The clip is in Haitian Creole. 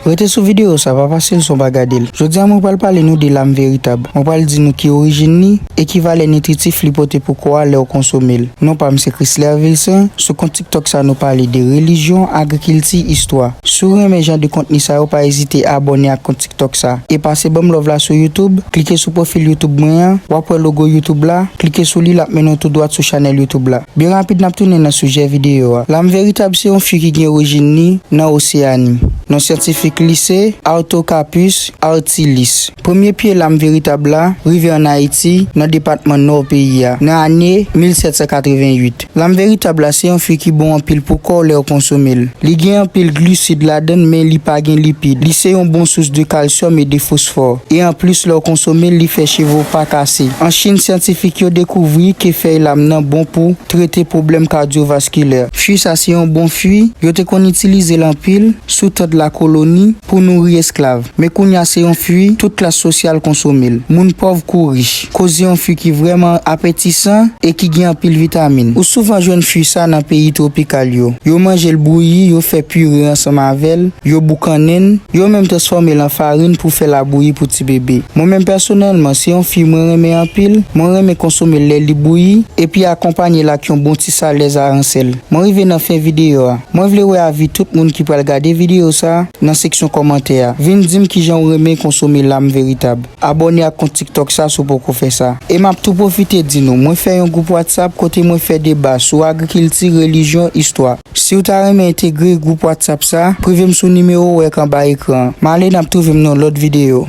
Rete sou videyo sa, pa pase l san w pa gade l. Jodi a mwen pral pale nou de lam veritab. Mwen pral di nou ki orijin li e ki valè nitritif li pote pou kò a lè w konsome l. Non pa m se Chrisler Vilcin, sou kont tiktok sa nou pale de relijyon, agrikilti, istwa. Si w renmen jan de kontni sa yo pa ezite abòne ak kont tiktok sa. E pase banm love la sou youtube, klike sou pwofil youtube mwen an, wap wè logo youtube la, klike sou li lap mennen w tou dwat sou chanèl youtube la. Byen rapid nap tounen nan sijè videyo a. Lam veritab se yon fi ki gen orijin li nan Oseyani. Non syantifik li se Artocarpus artilis. Premye pye lam veritab la rive an Ayiti nan depatman Nò peyi a nan ane 1788. Lam veritab la se yon fwi ki bon anpil pou kò w lè w konsome l. Li gen anpil glusid ladan l men li pa gen lipid. Li se yon bon sous de kalsyòm e de fosfò. E anplis lè w konsome l li fè cheve w pa kase. An Chin syantifik yo dekouvri ke fèy lam nan bon pou trete pwoblèm kadyovaskilè. Fui sa se yon bon fui, yo te konn itilize l anpil sou tè de la koloni pou nouri esklav. Men kounya se yon fui tout klas sosyal konsome l. Moun pòv kou rich. Koze yon fwi ki vrèman apetisan e ki gen anpil vitamin. Ou souvan jwenn fwi sa nan peyi twopikal yo. Yo manje l bouyi, yo fè pire ansanm avè l, yo boukannen l, yo menm transfòme l an farin pou fè labouyi pou ti bebe. Mwen menm pèsonèlman, se yon fwi mwen renmen anpil, mwen renmen konsome l lè li bouyi, epi akonpanye l ak yon bon ti salèz aransèl. Mwen rive nan fen videyo a. Mwen vle wè avi tout moun ki pral gade videyo sa nan seksyon kòmantè a. Vin di m kijan ou renmen konsome lam veritab. Abòne ak kont tiktok sa si w poko fè sa. E map tou pwofite di nou, mwen fè yon gwoup whatsapp kote mwen fè deba sou agrikilti, relijyon, istwa. Siw ta renmen entegre gwoup whatsapp sa, prive m sou nimewo ou ek anba ekran an. M ale nap twouve m nan yon lòt videyo.